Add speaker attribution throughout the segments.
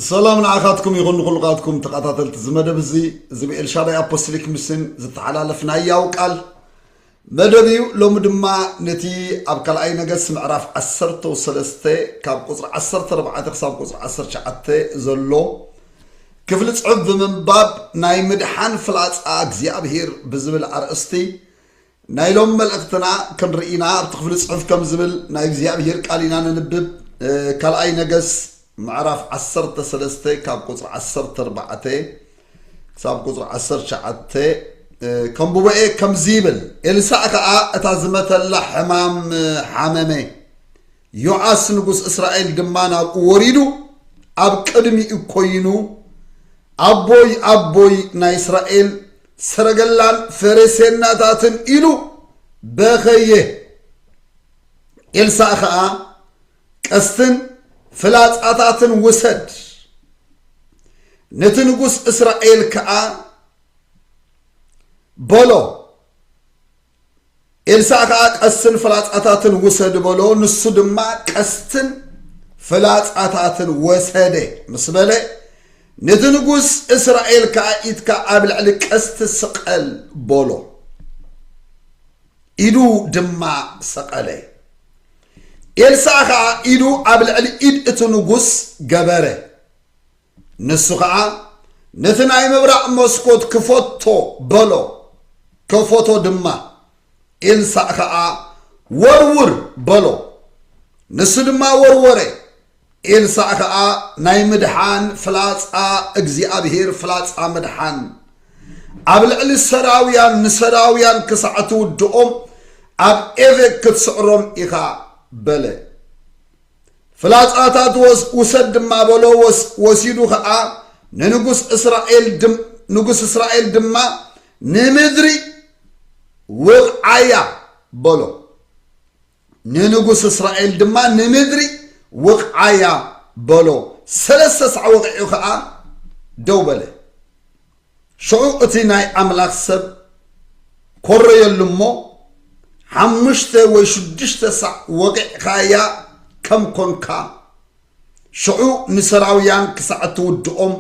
Speaker 1: ሰላም ንዓኻትኩም ይኹን ንኹልኻትኩም ተኸታተልቲ እዚ መደብ እዚ እዚ ብኤልሻዳይ ኣፖስቶሊክ ሚስን ዝተሓላለፍ ናይ ያው ቃል መደብ እዩ ሎሚ ድማ ነቲ ኣብ ካልኣይ ነገስ ምዕራፍ 13 ካብ ቁፅሪ 14 ክሳብ ቁፅሪ 19 ዘሎ ክፍሊ ፅሑፍ ብምንባብ ናይ ምድሓን ፍላፃ እግዚኣብሄር ብዝብል ኣርእስቲ ናይ ሎም መልእኽትና ክንርኢ ኢና ኣብቲ ክፍሊ ጽሑፍ ከም ዝብል ናይ እግዚኣብሄር ቃል ኢና ነንብብ ካልኣይ ነገስ ምዕራፍ ዓሰርተ ሰለስተ ካብ ቁጽሪ ዓሰርተ ኣርባዕተ ክሳብ ቁጽሪ ዓሰርተ ትሽዓተ ከምብቦ እየ ከምዚ ይብል ኤልሳእ ከኣ እታ ዝመተላ ሕማም ሓመመ ዮኣስ ንጉስ እስራኤል ድማ ናብኡ ወሪዱ ኣብ ቅድሚኡ ኮይኑ ኣቦይ ኣቦይ ናይ እስራኤል ሰረገላን ፈረሴናታትን ኢሉ በኸየ። ኤልሳእ ኸኣ ቀስትን ፍላጻታትን ውሰድ፣ ነቲ ንጉስ እስራኤል ከኣ በሎ፣ ኤልሳእ ከኣ ቀስትን ፍላጻታትን ውሰድ በሎ፣ ንሱ ድማ ቀስትን ፍላጻታትን ወሰደ ምስ በለ፣ ነቲ ንጉስ እስራኤል ከኣ ኢድካ ኣብ ልዕሊ ቀስቲ ስቐል በሎ። ኢዱ ድማ ሰቐለ። ኤልሳእ ከኣ ኢዱ ኣብ ልዕሊ ኢድ እቲ ንጉስ ገበረ። ንሱ ኸዓ ነቲ ናይ ምብራቕ መስኮት ክፈቶ በሎ ከፈቶ ድማ ኤልሳእ ኸዓ ወርውር በሎ ንሱ ድማ ወርወረ ኤልሳእ ኸዓ ናይ ምድሓን ፍላፃ እግዚኣብሄር ፍላፃ ምድሓን ኣብ ልዕሊ ሰራውያን ንሰራውያን ክሳዕ ትውድኦም ኣብ ኤቨክ ክትስዕሮም ኢኻ በለ ፍላጻታት ወስ ውሰድ ድማ በሎ፣ ወስ ወሲዱ ኸኣ ንንጉስ እስራኤል ድም ንጉስ እስራኤል ድማ ንምድሪ ውቕዓያ በሎ። ንንጉስ እስራኤል ድማ ንምድሪ ውቕዓያ በሎ። ሰለስተ ሳዕ ወቒዑ ኸኣ ደው በለ። ሽዑ እቲ ናይ ኣምላኽ ሰብ ኰረየሉ እሞ፣ ሓሙሽተ ወይ ሽዱሽተ ሳዕ ወቒዕካያ ከም ኰንካ፣ ሽዑ ንሶርያውያን ክሳዕ እትውድኦም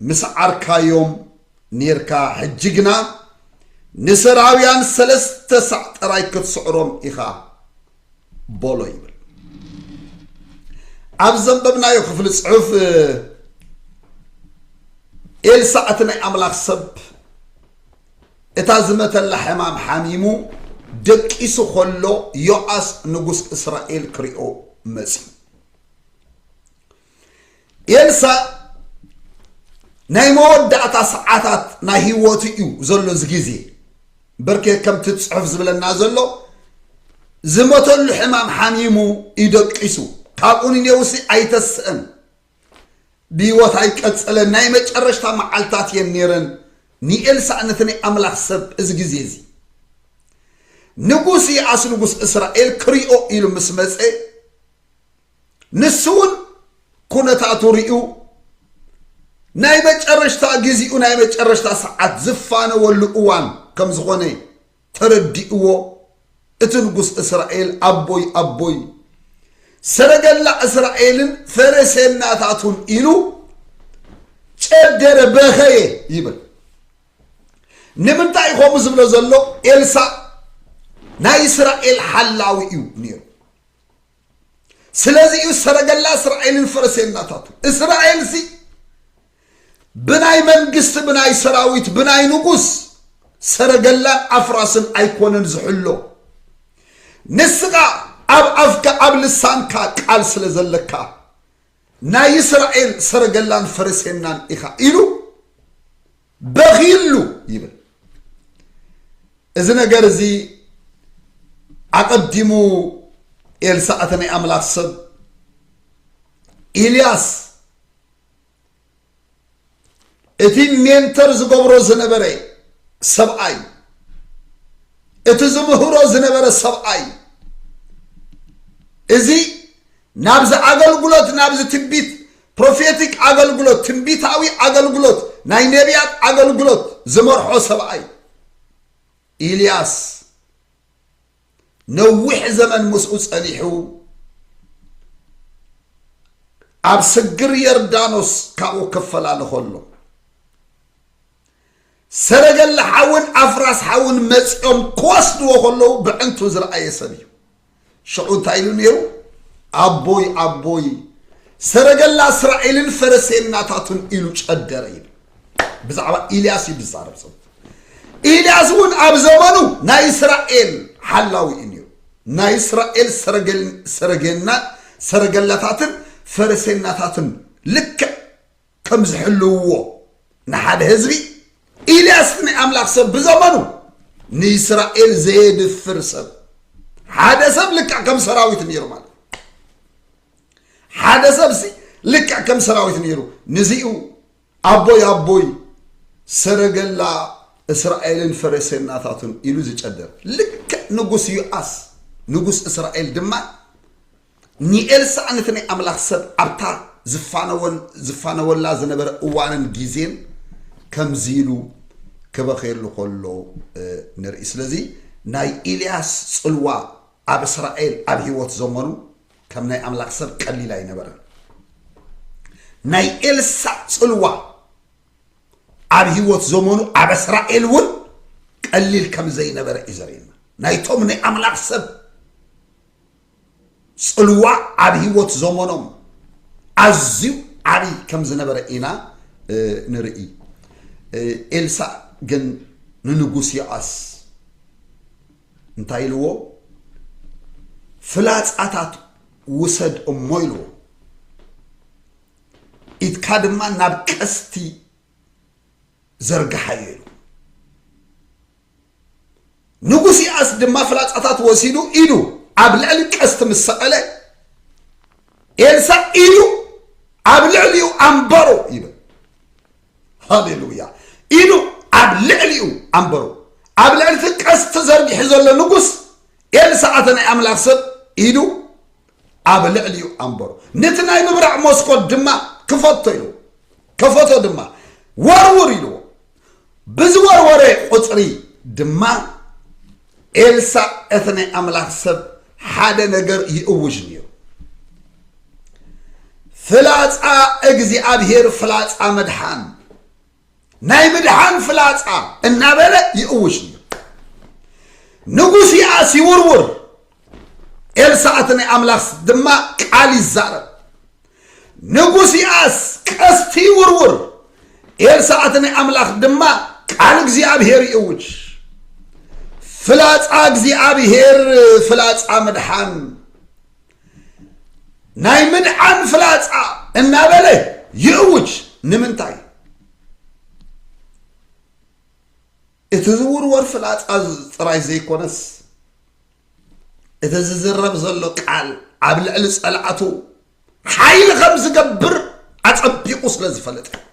Speaker 1: ምስዓርካዮም ኔርካ፣ ሕጂ ግና ንሶርያውያን ሰለስተ ሳዕ ጥራይ ክትስዕሮም ኢኻ። ቦሎ ይብል ኣብ ዘንበብናዮ ክፍሊ ፅሑፍ ኤልሳዕ እቲ ናይ ኣምላኽ ሰብ እታ ዝመተላ ሕማም ሓሚሙ ደቂሱ ከሎ ዮኣስ ንጉስ እስራኤል ክሪኦ መፅዩ ኤልሳ ናይ መወዳእታ ሰዓታት ናይ ህይወቱ እዩ ዘሎ እዚ ግዜ በርከ ከምቲ ፅሑፍ ዝብለና ዘሎ ዝመተሉ ሕማም ሓሚሙ ይደቂሱ ካብኡ ንኔውሲ ኣይተስእን ብህይወት ኣይቀፀለን ናይ መጨረሽታ መዓልታት እየን ነይረን ንኤልሳ ነቲ ናይ ኣምላኽ ሰብ እዚ ግዜ እዚ ንጉስ ይኣስ ንጉስ እስራኤል ክሪኦ ኢሉ ምስ መፀ ንሱ እውን ኩነታቱ ርእዩ ናይ መጨረሽታ ግዜኡ ናይ መጨረሽታ ሰዓት ዝፋነወሉ እዋን ከም ዝኾነ ተረዲእዎ እቲ ንጉስ እስራኤል ኣቦይ ኣቦይ ሰረገላ እስራኤልን ፈረሴናታቱን ኢሉ ጨደረ በኸየ ይብል ንምንታይ ከምኡ ዝብሎ ዘሎ ኤልሳእ ናይ እስራኤል ሓላዊ እዩ ነይሩ ስለዚ እዩ ሰረገላ እስራኤልን ፈረሴናታቱ እስራኤል ሲ ብናይ መንግስቲ ብናይ ሰራዊት ብናይ ንጉስ ሰረገላን ኣፍራስን ኣይኮነን ዝሕሎ ንስኻ ኣብ ኣፍካ ኣብ ልሳንካ ቃል ስለ ዘለካ ናይ እስራኤል ሰረገላን ፈረሴናን ኢኻ ኢሉ በኺሉ ይብል እዚ ነገር እዚ ኣቐዲሙ ኤልሳዕ እቲ ናይ ኣምላኽ ሰብ ኢልያስ እቲ ሜንተር ዝገብሮ ዝነበረ ሰብኣይ እቲ ዝምህሮ ዝነበረ ሰብኣይ እዚ ናብዚ ኣገልግሎት ናብዚ ትቢት ፕሮፌቲክ ኣገልግሎት፣ ትንቢታዊ ኣገልግሎት፣ ናይ ነቢያት ኣገልግሎት ዝመርሖ ሰብኣይ ኢልያስ ነዊሕ ዘመን ምስኡ ጸኒሑ ኣብ ስግር የርዳኖስ ካብኡ ክፈላለ ከሎ ሰረገላ ሓውን ኣፍራስ ሓውን መፂኦም ክወስድዎ ከለዉ ብዕንቱ ዝረኣየ ሰብ እዩ ሽዑ እንታይ ኢሉ ነይሩ ኣቦይ ኣቦይ ሰረገላ እስራኤልን ፈረሴናታቱን ኢሉ ጨደረ ይብል ብዛዕባ ኢልያስ እዩ ዝዛረብ ዘሎ ኢልያስ እውን ኣብ ዘመኑ ናይ እስራኤል ሓላዊ እዩ ነይሩ ናይ እስራኤል ሰረገና ሰረገላታትን ፈረሴናታትን ልክዕ ከም ዝሕልውዎ ንሓደ ህዝቢ ኢልያስ ናይ ኣምላኽ ሰብ ብዘመኑ ንእስራኤል ዘየድፍር ሰብ ሓደ ሰብ ልክዕ ከም ሰራዊት ነይሩ ማለት ሓደ ሰብ ሲ ልክዕ ከም ሰራዊት ነይሩ ንዚኡ ኣቦይ ኣቦይ ሰረገላ እስራኤልን ፈረሴናታቱን ኢሉ ዝጨደር ልክዕ ንጉስ ዩኣስ ንጉስ እስራኤል ድማ ንኤልሳእን እቲ ናይ ኣምላኽ ሰብ ኣብታ ዝፋነወን ዝፋነወላ ዝነበረ እዋንን ግዜን ከምዚ ኢሉ ክበኽየሉ ከሎ ንርኢ። ስለዚ ናይ ኢልያስ ጽልዋ ኣብ እስራኤል ኣብ ህይወት ዘመኑ ከም ናይ ኣምላኽ ሰብ ቀሊል ኣይነበረን። ናይ ኤልሳእ ጽልዋ ኣብ ህይወት ዘመኑ ኣብ እስራኤል እውን ቀሊል ከም ዘይነበረ እዩ ዘርእየና ናይቶም ናይ ኣምላኽ ሰብ ጽልዋ ኣብ ህይወት ዘመኖም ኣዝዩ ዓብዪ ከም ዝነበረ ኢና ንርኢ። ኤልሳእ ግን ንንጉስ ዮኣስ እንታይ ኢልዎ? ፍላጻታት ውሰድ እሞ ኢልዎ፣ ኢትካ ድማ ናብ ቀስቲ ዘርግሓዮ ኢሉ ንጉስ የኣስ ድማ ፍላጻታት ወሲዱ ኢዱ ኣብ ልዕሊ ቀስቲ ምስ ሰቐለ ኤልሳእ ኢዱ ኣብ ልዕሊኡ ኣንበሮ ይብል ሃሌሉያ ኢዱ ኣብ ልዕሊኡ ኣንበሮ ኣብ ልዕሊ እቲ ቀስቲ ዘርጊሑ ዘሎ ንጉስ ኤልሳእ ኣተ ናይ ኣምላኽ ሰብ ኢዱ ኣብ ልዕሊኡ ኣንበሮ ነቲ ናይ ምብራዕ መስኮት ድማ ክፈቶ ኢልዎ ከፈቶ ድማ ወርውር ኢልዎ ብዝወርወረ ቁጽሪ ድማ ኤልሳ እቲ ናይ ኣምላኽ ሰብ ሓደ ነገር ይእውጅ ነይሩ ፍላጻ እግዚኣብሔር ፍላጻ መድሓን ናይ ምድሓን ፍላጻ እናበለ ይእውጅ ነይሩ ንጉስ ይኣስ ይውርውር ኤልሳዕ እቲ ናይ ኣምላኽ ድማ ቃል ይዛረብ ንጉስ ይኣስ ቀስቲ ይውርውር ኤልሳዕ እቲ ናይ ኣምላኽ ድማ ቃል እግዚኣብሔር ይእውጅ ፍላጻ እግዚኣብሔር ፍላጻ ምድሓን ናይ ምድዓን ፍላጻ እናበለ ይእውጅ ንምንታይ እቲ ዝውርወር ፍላጻ ጥራይ ዘይኮነስ እቲ ዝዝረብ ዘሎ ቃል ኣብ ልዕሊ ጸላእቱ ሓይሊ ከም ዝገብር ኣጸቢቑ ስለ ዝፈለጠ እዩ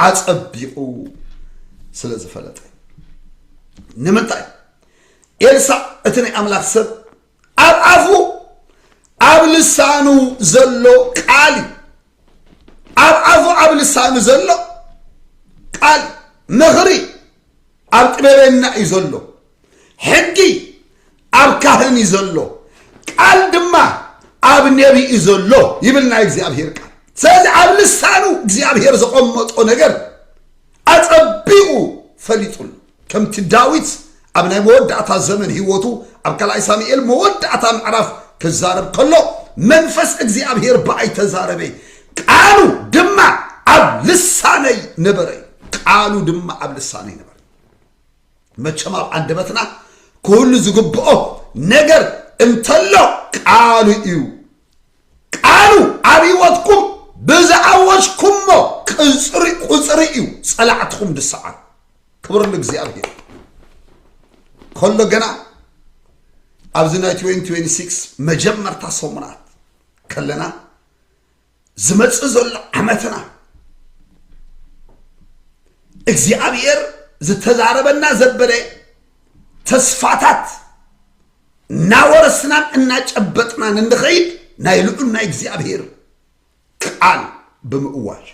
Speaker 1: ኣጸቢቑ ስለ ዝፈለጠ ንምንታይ ኤልሳዕ እቲ ናይ ኣምላኽ ሰብ ኣብ ኣፉ ኣብ ልሳኑ ዘሎ ቃል እዩ ኣብ ኣፉ ኣብ ልሳኑ ዘሎ ቃል ምኽሪ ኣብ ጥበበና እዩ ዘሎ ሕጊ ኣብ ካህን እዩ ዘሎ ቃል ድማ ኣብ ነቢ እዩ ዘሎ ይብል ናይ እግዚኣብሔር ቃል ስለዚ ኣብ ልሳኑ እግዚኣብሔር ዘቐመጦ ነገር ኣጸቢቑ ፈሊጡሉ ከምቲ ዳዊት ኣብ ናይ መወዳእታ ዘመን ህይወቱ ኣብ ካልኣይ ሳሙኤል መወዳእታ ምዕራፍ ክዛረብ ከሎ መንፈስ እግዚኣብሔር ብኣይ ተዛረበ ቃሉ ድማ ኣብ ልሳነይ ነበረ እዩ ቃሉ ድማ ኣብ ልሳነይ ነበረ መቸም ኣብ ኣንደበትና ክህሉ ዝግብኦ ነገር እንተሎ ቃሉ እዩ ቃሉ ኣብ ህይወትኩም ብዝኣወጅኩሞ ቅጽሪ ቁጽሪ እዩ ጸላዕትኹም ድሰዓሩ ክብር ንእግዚኣብሔር ከሎ ገና ኣብዚ ናይ 2026 መጀመርታ ሰሙናት ከለና ዝመጽእ ዘሎ ዓመትና እግዚኣብሔር ዝተዛረበና ዘበለ ተስፋታት እናወረስናን እናጨበጥናን እንኸይድ ናይ ልዑል ናይ እግዚኣብሔር ቃል ብምእዋጅ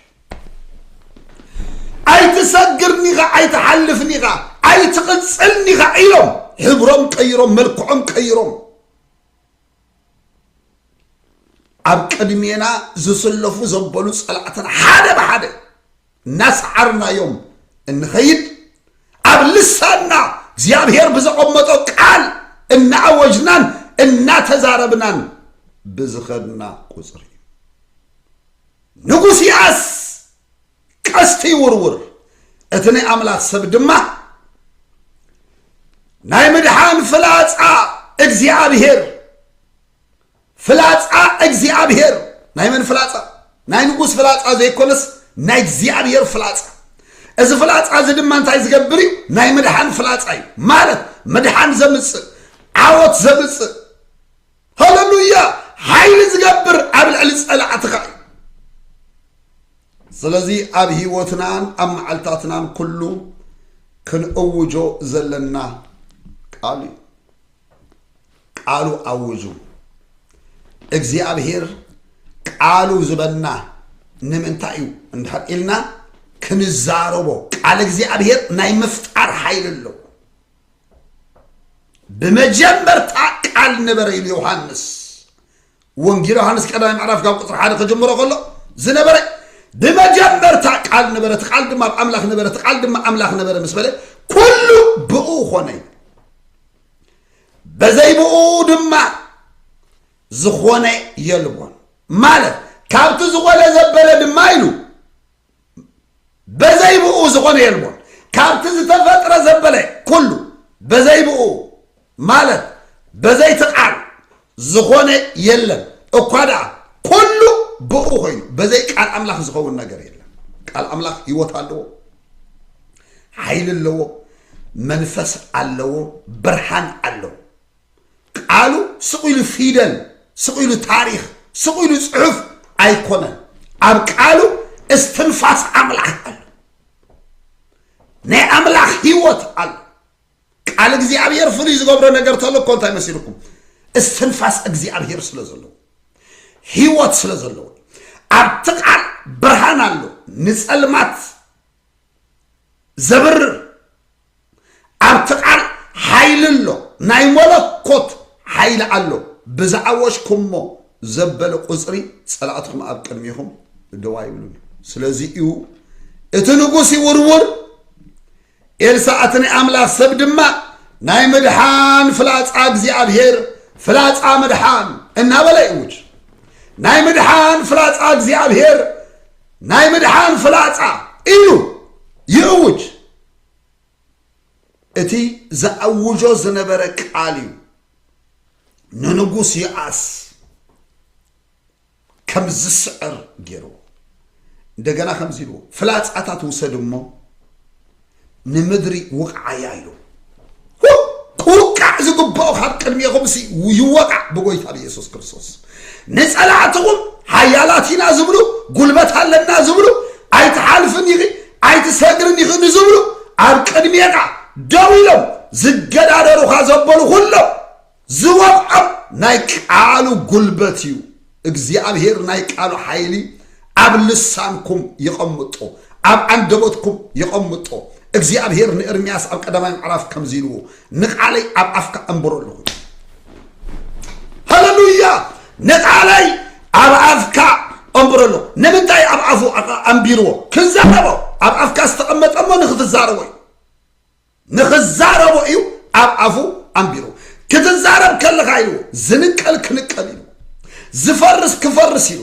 Speaker 1: ኣይትሰግርኒ ኢኻ ኣይትሓልፍኒ ኢኻ ኣይትቕፅልኒ ኢኻ ኢሎም ሕብሮም ቀይሮም መልክዖም ቀይሮም ኣብ ቅድሜና ዝስለፉ ዘበሉ ፀላእትና ሓደ ብሓደ እናሰዓርናዮም እንኸይድ ኣብ ልሳንና እግዚኣብሔር ብዘቐመጦ ቃል እናኣወጅናን እናተዛረብናን ብዝኸድና ቁፅሪ እዩ ንጉስ ያስ ቀስቲ ይውርውር እቲ ናይ ኣምላኽ ሰብ ድማ ናይ ምድሓን ፍላፃ እግዚኣብሔር ፍላጻ እግዚኣብሔር ናይ መን ፍላጻ ናይ ንጉስ ፍላጻ ዘይኮነስ ናይ እግዚኣብሔር ፍላጻ እዚ ፍላጻ እዚ ድማ እንታይ ዝገብር እዩ ናይ ምድሓን ፍላጻ እዩ ማለት ምድሓን ዘምፅእ ዓወት ዘምፅእ ሃለሉያ ሓይሊ ዝገብር ኣብ ልዕሊ ፀላዕትኻ እዩ ስለዚ ኣብ ህይወትናን ኣብ መዓልታትናን ኩሉ ክንእውጆ ዘለና ቃል እዩ ቃሉ ኣውጁ። እግዚኣብሄር ቃሉ ዝበና ንምንታይ እዩ እንድሕር ኢልና ክንዛረቦ ቃል እግዚኣብሄር ናይ ምፍጣር ሓይሊ ኣለዎ ብመጀመርታ ቃል ነበረ ኢሉ ዮሃንስ ወንጌል ዮሃንስ ቀዳማይ ምዕራፍ ካብ ቁፅሪ ሓደ ከጀምሮ ከሎ ዝነበረ ብመጀመርታ ቃል ነበረ እቲ ቃል ድማ ኣብ ኣምላኽ ነበረ እቲ ቃል ድማ ኣምላኽ ነበረ ምስ በለ ኩሉ ብኡ ኮነ እዩ በዘይ ብኡ ድማ ዝኾነ የልቦን ማለት ካብቲ ዝኾነ ዘበለ ድማ ኢሉ በዘይ ብኡ ዝኾነ የልቦን። ካብቲ ዝተፈጥረ ዘበለ ኩሉ በዘይ ብኡ ማለት በዘይ እቲ ቃል ዝኾነ የለን። እኳ ደኣ ኩሉ ብኡ ኮይኑ በዘይ ቃል ኣምላኽ ዝኸውን ነገር የለን። ቃል ኣምላኽ ህይወት ኣለዎ፣ ሓይሊ ኣለዎ፣ መንፈስ ኣለዎ፣ ብርሃን ኣለዎ። ቃሉ ስቕ ኢሉ ፊደል ስቕ ኢሉ ታሪኽ ስቕ ኢሉ ጽሑፍ ኣይኮነን ኣብ ቃሉ እስትንፋስ ኣምላኽ ኣሎ ናይ ኣምላኽ ህይወት ኣሎ ቃል እግዚኣብሔር ፍሉይ ዝገብሮ ነገር ተሎ እኮ እንታይ መሲልኩም እስትንፋስ እግዚኣብሔር ስለ ዘለዎ ህይወት ስለ ዘለዎ ኣብቲ ቃል ብርሃን ኣሎ ንፀልማት ዘብርር ኣብቲ ቃል ሓይሊ ኣሎ ናይ መለኮት ሓይሊ ኣሎ ብዝኣወጅኩሞ ዘበለ ቁፅሪ ፀላእትኹም ኣብ ቅድሚኹም ደው ኣይብሉን እዩ ስለዚ እዩ እቲ ንጉስ ይውርውር ኤልሳዕ እቲ ናይ ኣምላኽ ሰብ ድማ ናይ ምድሓን ፍላፃ እግዚኣብሄር ፍላፃ ምድሓን እናበለ ይእውጅ ናይ ምድሓን ፍላፃ እግዚኣብሄር ናይ ምድሓን ፍላጻ ኢሉ ይእውጅ እቲ ዘኣውጆ ዝነበረ ቃል እዩ ንንጉስ ይኣስ ከም ዝስዕር ገይርዎ እንደገና ከምዚ ኢልዎ ፍላጻታት ውሰድ እሞ ንምድሪ ውቕዓያ ኢሉ ክውቃዕ ዝግብኦ ካብ ቅድሜኹም ሲ ይወቃዕ ብጎይታ ብኢየሱስ ክርስቶስ ንጸላእትኹም ሓያላት ኢና ዝብሉ ጉልበት ኣለና ዝብሉ ኣይትሓልፍን ኢኺ ኣይትሰግርን ኢኺ ንዝብሉ ኣብ ቅድሜኻ ደው ኢሎም ዝገዳደሩኻ ዘበሉ ኩሎም ዝወቕዖም ናይ ቃሉ ጉልበት እዩ እግዚኣብሔር ናይ ቃሉ ሓይሊ ኣብ ልሳንኩም የቐምጦ ኣብ ኣንደበትኩም የቐምጦ እግዚኣብሔር ንእርምያስ ኣብ ቀዳማይ ምዕራፍ ከምዚ ኢልዎ ንቓለይ ኣብ ኣፍካ ኣንብሮ ኣለኹ ሃለሉያ ንቓለይ ኣብ ኣፍካ ኣንብሮ ኣለኹ ንምንታይ ኣብ ኣፉ ኣንቢርዎ ክንዛረቦ ኣብ ኣፍካ ዝተቐመጠሞ ንክትዛረቦ እዩ ንኽዛረቦ እዩ ኣብ ኣፉ ኣንቢሩ ክትዛረብ ከለኻ ኢሉ ዝንቀል ክንቀል ኢሉ ዝፈርስ ክፈርስ ኢሉ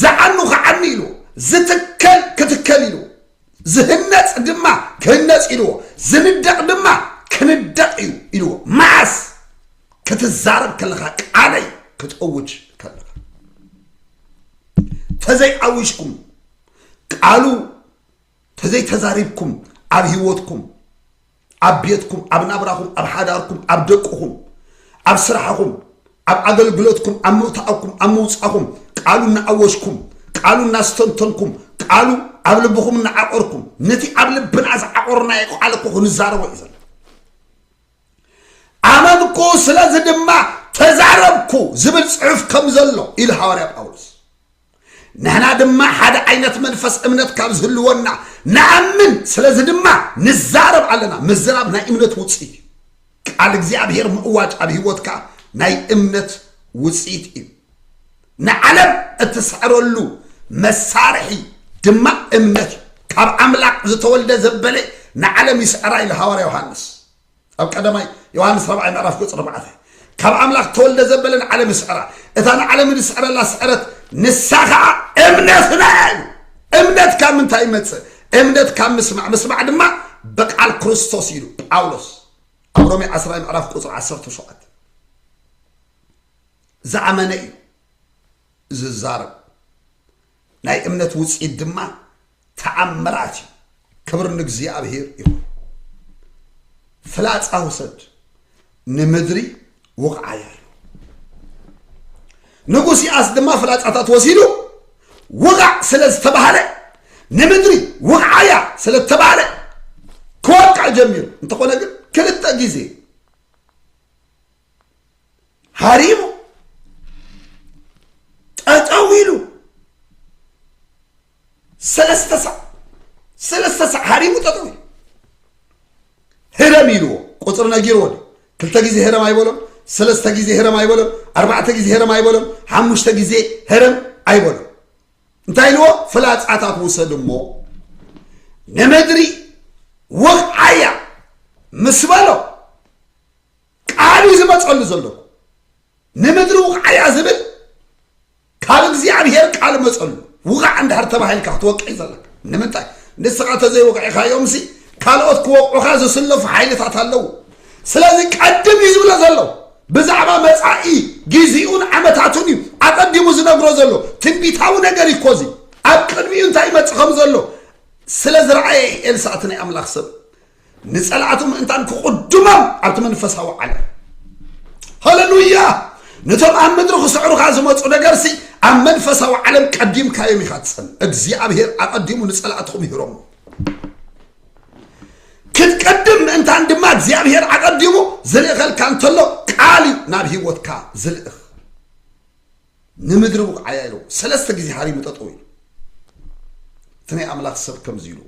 Speaker 1: ዝዓኑ ክዓኒ ኢሉ ዝትከል ክትከል ኢሉ ዝህነፅ ድማ ክህነፅ ኢልዎ ዝንደቕ ድማ ክንደቕ እዩ ኢልዎ መዓስ ክትዛረብ ከለኻ ቃለይ ክትእውጅ ከለኻ ተዘይኣዊጅኩም ቃሉ ተዘይ ተዛሪብኩም ኣብ ህይወትኩም ኣብ ቤትኩም ኣብ ናብራኹም ኣብ ሓዳርኩም ኣብ ደቅኹም ኣብ ስራሕኹም ኣብ ኣገልግሎትኩም ኣብ ምውታእኩም ኣብ ምውፃኹም ቃሉ እናኣወጅኩም ቃሉ እናስተንተንኩም ቃሉ ኣብ ልብኹም እናዓቆርኩም ነቲ ኣብ ልብና ዝዓቆርናዮ ቃል እኮ ክንዛረቦ እዩ ዘሎ ኣመንኩ ስለዚ ድማ ተዛረብኩ ዝብል ፅሑፍ ከም ዘሎ ኢሉ ሃዋርያ ጳውሎስ ንሕና ድማ ሓደ ዓይነት መንፈስ እምነት ካብ ዝህልወና ንኣምን ስለዚ ድማ ንዛረብ ኣለና ምዝራብ ናይ እምነት ውፅኢት እዩ ቃል እግዚኣብሔር ምእዋጅ ኣብ ህይወትካ ናይ እምነት ውፅኢት እዩ ንዓለም እትስዕረሉ መሳርሒ ድማ እምነት እዩ ካብ ኣምላኽ ዝተወልደ ዘበለ ንዓለም ይስዕራ ኢሉ ሃዋርያ ዮሃንስ ኣብ ቀዳማይ ዮሃንስ ራብዓይ ምዕራፍ ቁፅሪ ኣርባዕተ ካብ ኣምላኽ ተወልደ ዘበለ ንዓለም ይስዕራ እታ ንዓለም ንስዕረላ ስዕረት ንሳ ከዓ እምነትና እያ ኢሉ እምነት ካብ ምንታይ ይመፅእ እምነት ካብ ምስማዕ ምስማዕ ድማ ብቃል ክርስቶስ ኢሉ ጳውሎስ ኣብ ሮሜ 10 ምዕራፍ ቁፅሪ 17 ዝኣመነ እዩ ዝዛረብ ናይ እምነት ውፅኢት ድማ ተኣምራት እዩ። ክብር ንእግዚኣብሔር ይኹን። ፍላፃ ውሰድ ንምድሪ ውቕዓያ እዩ። ንጉስ ይኣስ ድማ ፍላፃታት ወሲዱ ውቓዕ ስለ ዝተባሃለ ንምድሪ ውቕዓያ ስለ ዝተባሃለ ክወቅዕ ጀሚሩ እንተኾነ ግን ክልተ ግዜ ሃሪሙ ጠጠው ኢሉ ሰለስተ ሳዕ ሰለስተ ሳዕ ሃሪሙ ጠጠው ኢሉ ህረም ኢልዎ ቁፅሪ ነጊርዎ ድዩ ክልተ ግዜ ህረም ኣይበሎም ሰለስተ ግዜ ህረም ኣይበሎም ኣርባዕተ ግዜ ህረም ኣይበሎም ሓሙሽተ ግዜ ህረም ኣይበሎም እንታይ ኢልዎ ፍላፃታት ውሰድ እሞ ንምድሪ ወቕዓያ ምስ በሎ ቃል እዩ ዝመፀሉ ዘለኩ ንምድሪ ውቕዓያ ዝብል ካብ እግዚኣብሔር ቃል መፀሉ ውቓዕ እንዳሃር ተባሂልካ ክትወቅዕ ዘለካ ንምንታይ ንስኻ ተዘይወቅዕኻዮም ሲ ካልኦት ክወቕዑኻ ዝስለፉ ሓይልታት ኣለዉ ስለዚ ቀድም እዩ ዝብሎ ዘሎ ብዛዕባ መፃኢ ግዜኡን ዓመታቱን እዩ ኣቐዲሙ ዝነግሮ ዘሎ ትንቢታዊ ነገር እዩ ኮዚ ኣብ ቅድሚኡ እንታይ ይመፅእ ከም ዘሎ ስለ ዝረኣየ ኤልሳእቲ ናይ ኣምላኽ ሰብ ንጸላእቱ ምእንታን ክቕድሞም ኣብቲ መንፈሳዊ ዓለም ሃለሉያ ነቶም ኣብ ምድሪ ክስዕሩኻ ዝመፁ ነገርሲ ኣብ መንፈሳዊ ዓለም ቀዲምካዮም ኢኻ ትፀን እግዚኣብሄር ኣቐዲሙ ንጸላእትኹም ይህሮም ክትቀድም ምእንታን ድማ እግዚኣብሄር ኣቐዲሙ ዝልእኸልካ እንተሎ ቃል እዩ ናብ ህይወትካ ዝልእኽ ንምድሪ ብቕዓያ ኢሉ ሰለስተ ግዜ ሃሪሙ ጠጠው ኢሉ እቲ ናይ ኣምላኽ ሰብ ከምዚ ኢሉ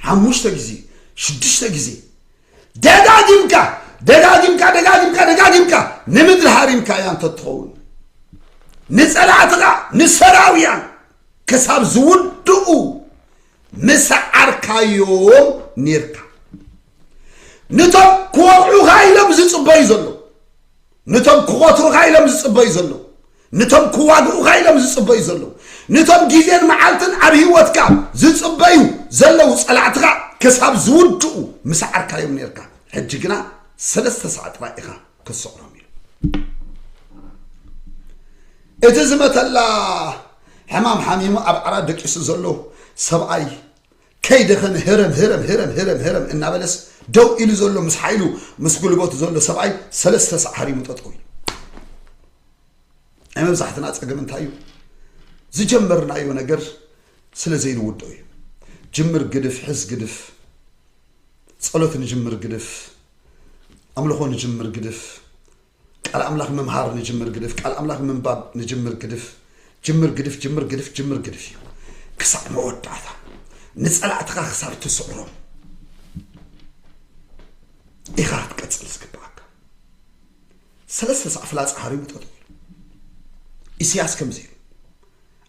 Speaker 1: ሓሙሽተ ግዜ ሽዱሽተ ግዜ ደጋጊምካ ደጋጊምካ ደጋጊምካ ደጋጊምካ ንምድሪ ሃሪምካ እያ እንተትኸውን ንጸላእትኻ ንሰራውያን ክሳብ ዝውድኡ ምስዓርካዮም ኔርካ ነቶም ክወቕዑኻ ኢሎም ዝጽበዩ ዘለዉ ንቶም ክቆትሩኻ ኢሎም ዝጽበዩ ዘለዉ ንቶም ክዋግኡኻ ኢሎም ዝጽበዩ ዘለዉ ንቶም ግዜን መዓልትን ኣብ ህይወትካ ዝጽበዩ ዘለዉ ጸላእትኻ ክሳብ ዝውድኡ ምስዓርካዮም ነርካ ሕጂ ግና ሰለስተ ሳዕ ጥራይ ኢኻ ክትስዕሮም ኢሉ እቲ ዝመተላ ሕማም ሓሚሙ ኣብ ዓራት ደቂሱ ዘሎ ሰብኣይ ከይደኸመ ህረም ህረም ህረም ህረም ህረም እናበለስ ደው ኢሉ ዘሎ ምስ ሓይሉ ምስ ጉልበቱ ዘሎ ሰብኣይ ሰለስተ ሳዕ ሃሪሙ ጠጠው ኢሉ ናይ መብዛሕትና ፀገም እንታይ እዩ ዝጀመርናዮ ነገር ስለ ዘይንውድኦ እዩ ጅምር ግድፍ ሕዝ ግድፍ ጸሎት ንጅምር ግድፍ ኣምልኾ ንጅምር ግድፍ ቃል ኣምላኽ ምምሃር ንጅምር ግድፍ ቃል ኣምላኽ ምንባብ ንጅምር ግድፍ ጅምር ግድፍ ጅምር ግድፍ ጅምር ግድፍ እዩ ክሳዕ መወዳእታ ንጸላእትኻ ክሳብ ትስዕሮም ኢኻ ክትቀጽል ዝግብኣካ ሰለስተ ሳዕ ፍላጻ ሃሪሙ ጠጠው ኢሉ ኢሳያስ ከምዚ ኢሉ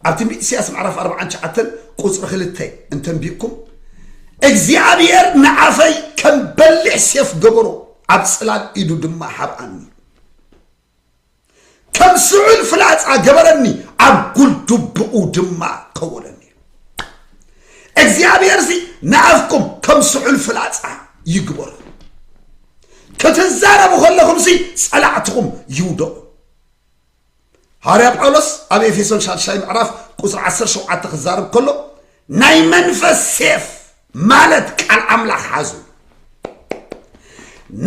Speaker 1: ኣብ ትንቢት ኢሳያስ ምዕራፍ ኣርባዓን ትሽዓተን ቁፅሪ ክልተ እንተንቢቕኩም እግዚኣብሔር ንዓፈይ ከም በሊሕ ሴፍ ገበሮ ኣብ ጽላል ኢዱ ድማ ሓብኣኒ ከም ስዑል ፍላጻ ገበረኒ ኣብ ጉልዱብኡ ድማ ከወለኒ እግዚኣብሔር ሲ ንኣፍኩም ከም ስዑል ፍላጻ ይግበሩ ክትዛረቡ ከለኹም ሲ ጸላዕትኹም ይውደቑ ሃዋርያ ጳውሎስ ኣብ ኤፌሶን ሻድሻይ ምዕራፍ ቁፅሪ 17 ክዛረብ ከሎ ናይ መንፈስ ሴፍ ማለት ቃል ኣምላኽ ሓዙ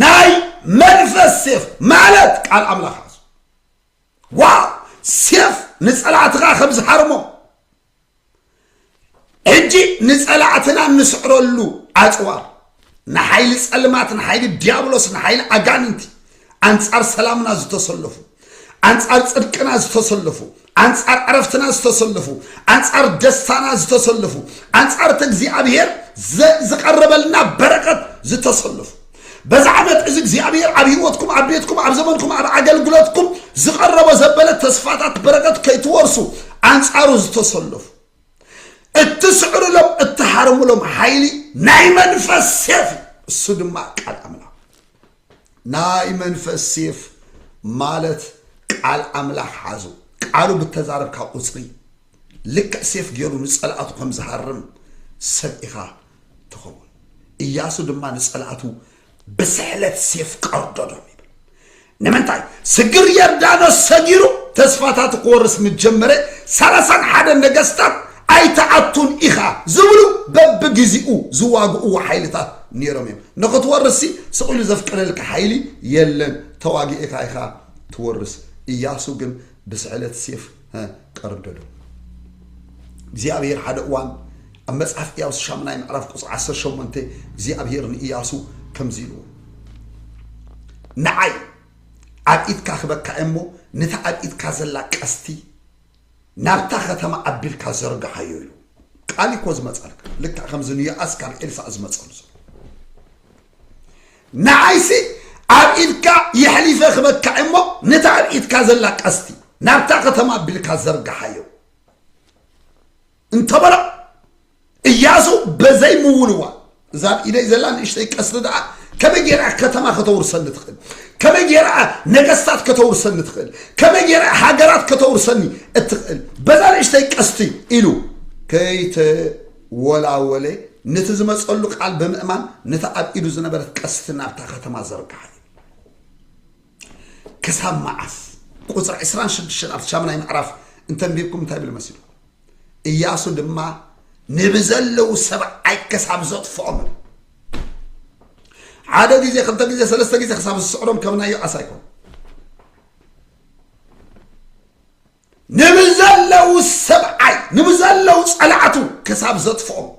Speaker 1: ናይ መንፈስ ሴፍ ማለት ቃል ኣምላኽ ሓዙ ዋው ሴፍ ንፀላእትኻ ከም ዝሃርሞ ሕጂ ንጸላእትና እንስዕረሉ ኣጽዋር ንሓይሊ ጸልማት ንሓይሊ ዲያብሎስ ንሓይሊ ኣጋንንቲ ኣንጻር ሰላምና ዝተሰለፉ ኣንጻር ጽድቅና ዝተሰለፉ ኣንጻር ዕረፍትና ዝተሰለፉ ኣንጻር ደስታና ዝተሰለፉ ኣንጻር እቲ እግዚኣብሄር ዝቐረበልና በረከት ዝተሰለፉ በዚ ዓመት እዚ እግዚኣብሔር ኣብ ህይወትኩም ኣብ ቤትኩም ኣብ ዘመንኩም ኣብ ኣገልግሎትኩም ዝቐረቦ ዘበለ ተስፋታት በረከት ከይትወርሱ ኣንጻሩ ዝተሰለፉ እትስዕርሎም እትሃርምሎም ሓይሊ ናይ መንፈስ ሴፍ እሱ ድማ ቃል ኣምላኽ ናይ መንፈስ ሴፍ ማለት ቃል ኣምላኽ ሓዙ ቃሉ ብተዛረብካ ቁፅሪ ልክዕ ሴፍ ገይሩ ንፀላእቱ ከም ዝሃርም ሰብ ኢኻ ትኸውን። እያሱ ድማ ንጸላእቱ ብስሕለት ሴፍ ቀርዶዶም ይብል። ንምንታይ ስግር የርዳኖስ ሰጊሩ ተስፋታቱ ክወርስ ምጀመረ ሰላሳን ሓደ ነገስታት ኣይተኣቱን ኢኻ ዝብሉ በብግዜኡ ዝዋግእዎ ሓይልታት ነይሮም እዮም ንክትወርሲ ስቕሉ ዘፍቅደልካ ሓይሊ የለን ተዋጊእካ ኢኻ ትወርስ እያሱ ግን ብስዕለት ሴፍ ቀርደዶ እግዚኣብሔር ሓደ እዋን ኣብ መጽሓፍ እያሱ ሻምናይ ምዕራፍ ቁጽሪ ዓሰርተ ሸሞንተ እግዚኣብሄር ንእያሱ ከምዚ ኢልዎ ንዓይ ኣብ ኢድካ ክበካ እየ እሞ ነታ ኣብ ኢድካ ዘላ ቀስቲ ናብታ ከተማ ኣቢልካ ዘርግሓዮ ኢሉ ቃል እኮ ዝመጻልካ ልክዕ ከምዚ ንዮኣስ ካብ ኤልሳእ ዝመጸሉ ዘሎ ንዓይሲ ኣብ ኢድካ የሕሊፈ ክበካ እየ እሞ ነታ ኣብ ኢድካ ዘላ ቀስቲ ናብታ ከተማ ኣቢልካ ዘርግሓዮ እንተበሎ እያሱ በዘይ ምውልዋ እዛ ኣብ ኢደይ ዘላ ንእሽተይ ቀስቲ ደኣ ከመይ ጌራ ከተማ ከተውርሰኒ ትኽእል ከመይ ጌራ ነገስታት ከተውርሰኒ ትኽእል ከመይ ጌራ ሃገራት ከተውርሰኒ እትኽእል በዛ ንእሽተይ ቀስቲ ኢሉ ከይተወላወለ ነቲ ዝመፀሉ ቃል ብምእማን ነቲ ኣብ ኢዱ ዝነበረት ቀስቲ ናብታ ከተማ ዘርግሓ እዩ ክሳብ መዓስ ቁፅሪ ዕስራን ሽዱሽተን ኣብቲ ሻሙናይ ምዕራፍ እንተንቢብኩም እንታይ ብል መሲሉ እያሱ ድማ ንብዘለዉ ሰብዓይ ክሳብ ዘጥፍኦም ሓደ ግዜ ክልተ ግዜ ሰለስተ ግዜ ክሳብ ዝስዕሮም ከምናዮ ኣሳይኮም ንብዘለዉ ሰብዓይ ንብዘለዉ ጸላእቱ ክሳብ ዘጥፍኦም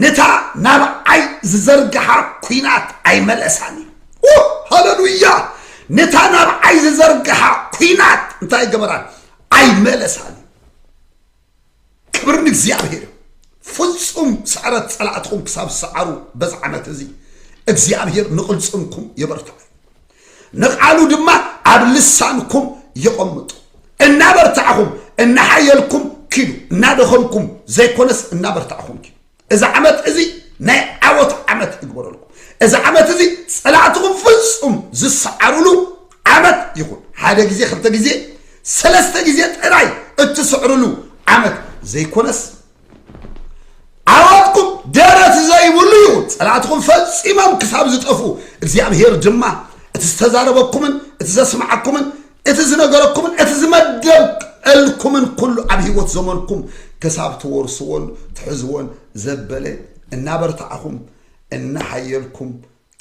Speaker 1: ንታ ናብዓይ ዝዘርግሓ ኲናት ኣይመለሳን እዩ ሃለሉያ ንታ ናብዓይ ዝዘርግሓ ኲናት እንታይ ገበራን ኣይመለሳን እዩ ክብሪ ንእግዚኣብሔር እዩ ፍጹም ስዕረት ጸላእትኹም ክሳብ ዝሰዓሩ በዚ ዓመት እዚ እግዚኣብሔር ንቕልጽምኩም የበርትዐ ንቓሉ ድማ ኣብ ልሳንኩም የቐምጡ እናበርታዕኹም እናሓየልኩም ኪዱ እናደኸምኩም ዘይኮነስ እናበርታዕኹም ኪዱ እዚ ዓመት እዚ ናይ ዓወት ዓመት ይግበረልኩም እዚ ዓመት እዚ ፀላእትኹም ፍፁም ዝሰዓሩሉ ዓመት ይኹን ሓደ ግዜ ክልተ ግዜ ሰለስተ ግዜ ጥራይ እትስዕርሉ ዓመት ዘይኮነስ ዓወትኩም ደረት ዘይብሉ ይኹን ፀላእትኹም ፈፂሞም ክሳብ ዝጠፍኡ እግዚኣብሄር ድማ እቲ ዝተዛረበኩምን እቲ ዘስማዓኩምን እቲ ዝነገረኩምን እቲ ዝመደብልኩምን ኩሉ ኣብ ህይወት ዘመንኩም ክሳብ ትወርስዎን ትሕዝዎን ዘበለ እናበርታዕኹም እናሓየልኩም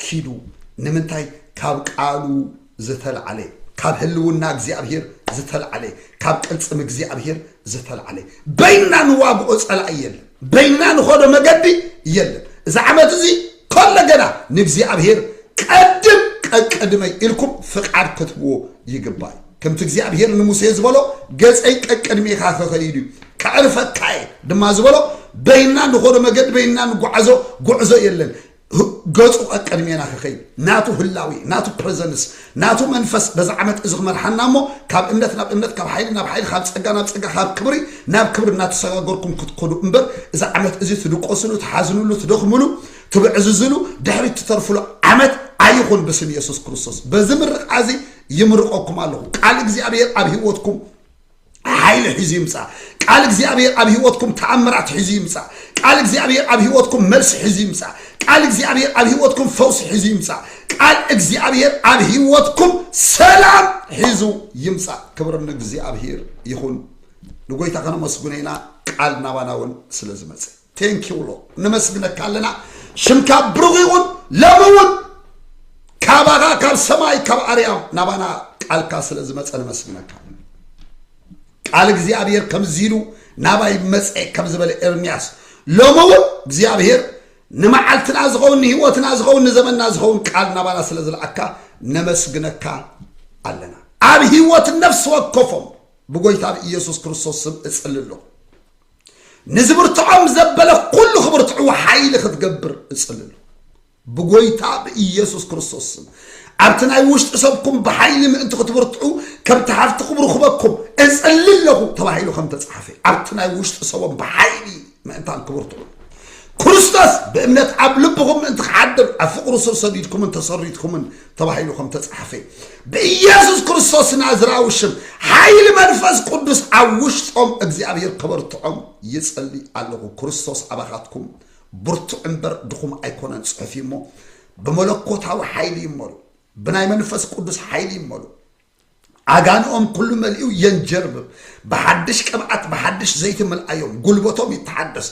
Speaker 1: ኪዱ ንምንታይ ካብ ቃሉ ዝተልዓለ ካብ ህልውና እግዚኣብሔር ዝተልዓለ ካብ ቅልፅም እግዚኣብሔር ዝተልዓለ በይንና ንዋግኦ ጸላኢ የለን በይንና ንኸዶ መገዲ የለን እዚ ዓመት እዚ ከሎ ገና ንእግዚኣብሔር ቀድም ቀቅድመይ ኢልኩም ፍቃድ ክትብዎ ይግባእ ከምቲ እግዚኣብሔር ንሙሴ ዝበሎ ገፀይ ቀቅድሜኻ ክኸይድ እዩ ከዕርፈካ እየ ድማ ዝበሎ በይና ንኾዶ መገዲ በይና ንጓዕዞ ጉዕዞ የለን ገጹ ቀቅድሜና ክኸይድ ናቱ ህላዊ ናቱ ፕረዘንስ ናቱ መንፈስ በዚ ዓመት እዚ ክመርሓና እሞ ካብ እምነት ናብ እምነት ካብ ሓይሊ ናብ ሓይሊ ካብ ጸጋ ናብ ጸጋ ካብ ክብሪ ናብ ክብሪ እናተሰጋገርኩም ክትከዱ እምበር እዚ ዓመት እዚ ትድቆስሉ ትሓዝንሉ ትደኽምሉ ትብዕዝዝሉ ድሕሪት ትተርፍሉ ዓመት ኣይኹን ብስም የሱስ ክርስቶስ በዚ ምርቃ እዚ ይምርቀኩም ኣለኹ ቃል እግዚኣብሔር ኣብ ህይወትኩም ሓይሊ ሒዙ ይምፃእ ቃል እግዚኣብሔር ኣብ ህይወትኩም ተኣምራት ሒዙ ይምፃእ ቃል እግዚኣብሔር ኣብ ህይወትኩም መልሲ ሒዙ ይምፃእ ቃል እግዚኣብሔር ኣብ ህይወትኩም ፈውሲ ሒዙ ይምፃእ ቃል እግዚኣብሔር ኣብ ህይወትኩም ሰላም ሒዙ ይምፃእ ክብሪ ንእግዚኣብሔር ይኹን ንጎይታ ከነመስግኖ ኢና ቃል ናባና እውን ስለ ዝመፅእ ቴንኪ ውሎ ነመስግነካ ኣለና ሽምካ ብሩኽ ይኹን ሎሚ እውን ካባኻ ካብ ሰማይ ካብ ኣርያም ናባና ቃልካ ስለ ዝመፀ ነመስግነካ ቃል እግዚኣብሔር ከምዚ ኢሉ ናባይ መፀ ከም ዝበለ ኤርምያስ ሎሚ እውን እግዚኣብሔር ንመዓልትና ዝኸውን ንህይወትና ዝኸውን ንዘመንና ዝኸውን ቃል ናባና ስለ ዝለኣካ ነመስግነካ ኣለና ኣብ ህይወት ነፍሲ ወከፎም ብጎይታ ብኢየሱስ ክርስቶስ ስም እጽሊ ኣለኹ ንዝብርትዖም ዘበለ ኩሉ ክብርትዕዎ ሓይሊ ክትገብር እጽልሉ ብጎይታ ብኢየሱስ ክርስቶስ ስም ኣብቲ ናይ ውሽጢ ሰብኩም ብሓይሊ ምእንቲ ክትብርትዑ ከምቲ ሃፍቲ ክብሩ ክበኩም እጽሊ ኣለኹ ተባሂሉ ከም ተጻሓፈ ኣብቲ ናይ ውሽጢ ሰቦም ብሓይሊ ምእንታን ክብርትዑ ክርስቶስ ብእምነት ኣብ ልብኹም ምእንቲ ክሓድር ኣብ ፍቕሩ ስር ሰዲድኩምን ተሰሪትኩምን ተባሂሉ ከም ተጻሓፈ እዩ። ብኢየሱስ ክርስቶስ ናዝራዊ ሽም ሓይሊ መንፈስ ቅዱስ ኣብ ውሽጦም እግዚኣብሔር ከበርትዖም ይጸሊ ኣለኹ። ክርስቶስ ኣባኻትኩም ብርቱዕ እምበር ድኹም ኣይኮነን ጽሑፍ እዩሞ ብመለኮታዊ ሓይሊ ይመሉ፣ ብናይ መንፈስ ቅዱስ ሓይሊ ይመሉ። ዓጋንኦም ኩሉ መሊኡ የንጀርብብ፣ ብሓድሽ ቅብኣት ብሓድሽ ዘይቲ ምልኣዮም፣ ጉልበቶም ይተሓደስ፣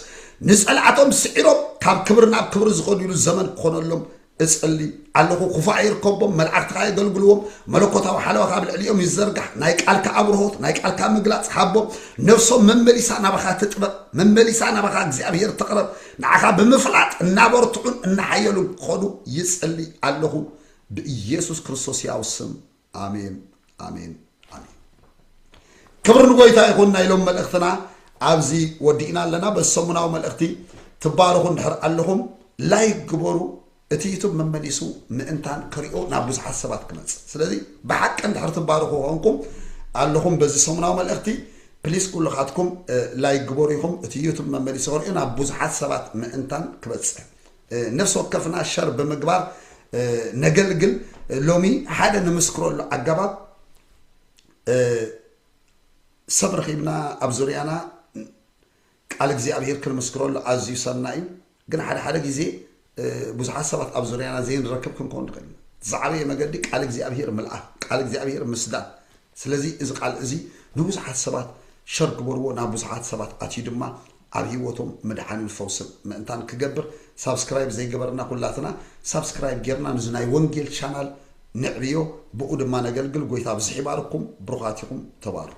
Speaker 1: ንጸላእቶም ስዒሮም ካብ ክብሪ ናብ ክብሪ ዝኸዱሉ ዘመን ክኾነሎም እጽሊ ኣለኹ ኩፋእ ይርከቦም መላእክትኻ የገልግልዎም መለኮታዊ ሓለዋኻ ኣብ ልዕሊኦም ይዘርጋሕ ናይ ቃልካ ኣብርሆት ናይ ቃልካ ምግላጽ ሃቦም ነፍሶም መመሊሳ ናባኻ ትጥበብ መመሊሳ ናባኻ እግዚኣብሄር ትቕረብ ንዓኻ ብምፍላጥ እናበርትዑን እናሓየሉን ክኾኑ ይጽሊ ኣለኹ ብኢየሱስ ክርስቶስ ሕያው ስም ኣሜን ኣሜን ኣሜን። ክብሪ ንጎይታ ይኹን። ናይ ሎም መልእኽትና ኣብዚ ወዲእና ኣለና። በዚ ሰሙናዊ መልእኽቲ ትባረኹ እንድሕር ኣለኹም ላይክ ግበሩ። እቲ ዩቱብ መመሊሱ ምእንታን ክሪኦ ናብ ብዙሓት ሰባት ክመጽእ። ስለዚ ብሓቂ እንድሕር ትባረኹ ኮንኩም ኣለኹም በዚ ሰሙናዊ መልእኽቲ ፕሊስ ኩልኻትኩም ላይክ ግበሩ ኢኹም። እቲ ዩቱብ መመሊሱ ክሪኦ ናብ ብዙሓት ሰባት ምእንታን ክበጽሕ ነፍሲ ወከፍና ሸር ብምግባር ነገልግል ሎሚ ሓደ ንምስክረሉ ኣገባብ ሰብ ረኺብና ኣብ ዙርያና ቃል እግዚኣብሄር ክንምስክረሉ ኣዝዩ ሰና እዩ ግን ሓደ ሓደ ግዜ ብዙሓት ሰባት ኣብ ዙርያና ዘይንረክብ ክንከውን ንኽእል ኢና ዝዓበየ መገዲ ቃል እግዚኣብሄር ምልኣኽ ቃል እግዚኣብሄር ምስዳድ ስለዚ እዚ ቃል እዚ ንብዙሓት ሰባት ሸር ግበርዎ ናብ ብዙሓት ሰባት ኣትዩ ድማ ኣብ ሂወቶም ምድሓንን ፈውስን ምእንታን ክገብር ሳብስክራይብ ዘይገበርና ኩላትና ሳብስክራይብ ጌርና ንዚ ናይ ወንጌል ቻናል ነዕብዮ ብኡ ድማ ነገልግል ጎይታ ኣብዝሕ ይባርኩም ብሩኻት ኢኹም ተባረኹ።